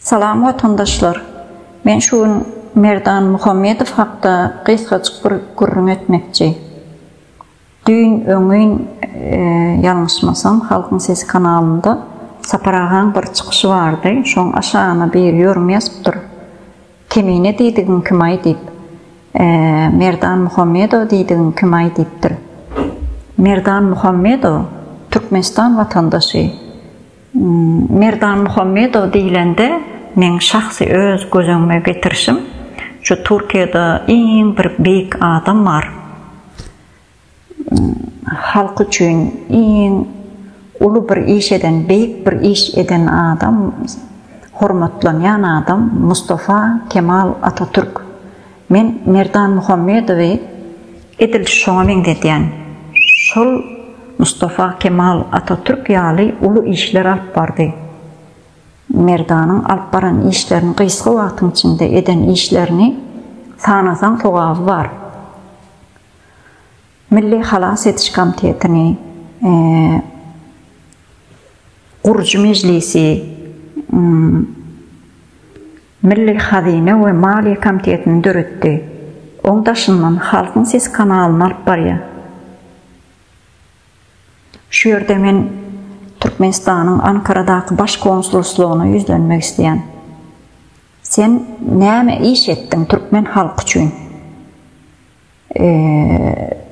Salam watandaşlar! Men şu gün Merdan Muhammedow hakda gysgajyk bir gürrüň etmekçi. Düýn, öňňin, ýalňyşmasam, Halkyň sesi kanalynda Sapar agaň bir çykyşy bardy, şoň aşagyna bir ýörüm ýazypdyr. Kemine diýdigiň kimaý diýip, e, Merdan Muhammedow diýdigiň kimaý diýipdir. Merdan Muhammedow Türkmenistan watandaşy. Merdan Muhammedow diýlende meň şahsy öz göz öňüme getirişim şu Türkiýede iň bir beýik adam bar. Halk üçin iň uly bir iş eden beýik bir iş eden adam hormatlanýan adam Mustafa Kemal Atatürk. Men Merdan Muhammedowy edil şoňa meňzedýän. Şol Mustafa Kemal Atatürk ýaly uly işler alyp bardy. Merdanyň alyp baran işlerini gysga wagtyň içinde eden işlerini sanasaň sogaby bar. Milli halas ediş komitetini gurujy mejlisi Milli hazyna we maliýe komitetini döretdi. Oň daşyndan Halkyň sesi kanalyny alyp barýar. Şu ýerde men Türkmenistanyň Ankaradaky baş konsulslygyna ýüzlenmek isleýän. Sen näme iş etdiň türkmen halky üçin?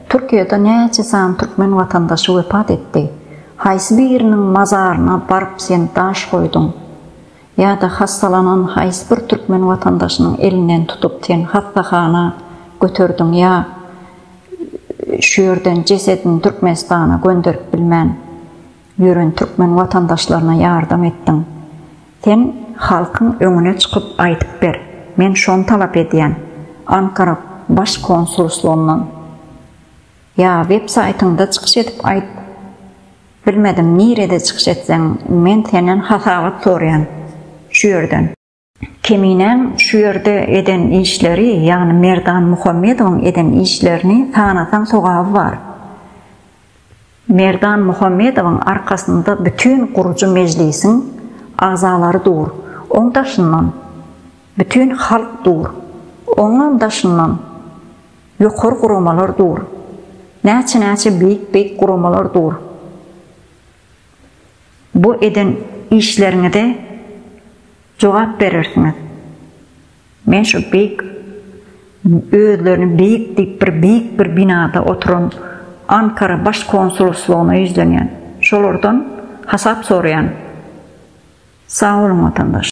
Türkiýede näçe sany türkmen watandaşy wepat etdi? Haýsy biriniň mazaryna baryp sen daş goýduň? Ýa-da hassalanan haýsy bir türkmen watandaşynyň elinden tutup sen hassahana göterdiň ýa şu ýerden jesedini Türkmenistana gönderip bilmän, Ýören türkmen watandaşlaryna ýardam etdiň. Sen halkyň öňüne çykyp aýdyp ber. Men şony talap edýän. Ankara baş konsulslygyndan. Ýa web saýtyňda çykyş edip aýt. Bilmedim nirede çykyş etseň men senden hasabat soraýan şu ýerden. Keminäň şu ýerde eden işleri, ýagny Merdan Muhammedowyň eden işlerini sanasaň sogaby bar. Merdan Muhammedowyň arkasynda bütin gurujy mejlisiň agzalary dur, oň daşyndan bütin halk dur, oňam daşyndan ýokary guramalar dur, näçe-näçe beýik-beýik guramalar dur. Bu eden işleriňize jogap berersiňiz. Men şu beýik özlerini beýik diýip bir beýik bir binada oturan Ankara baş konsulslugyna ýüzlenýän. Şolardan hasap soraýan. Sag boluň watandaş.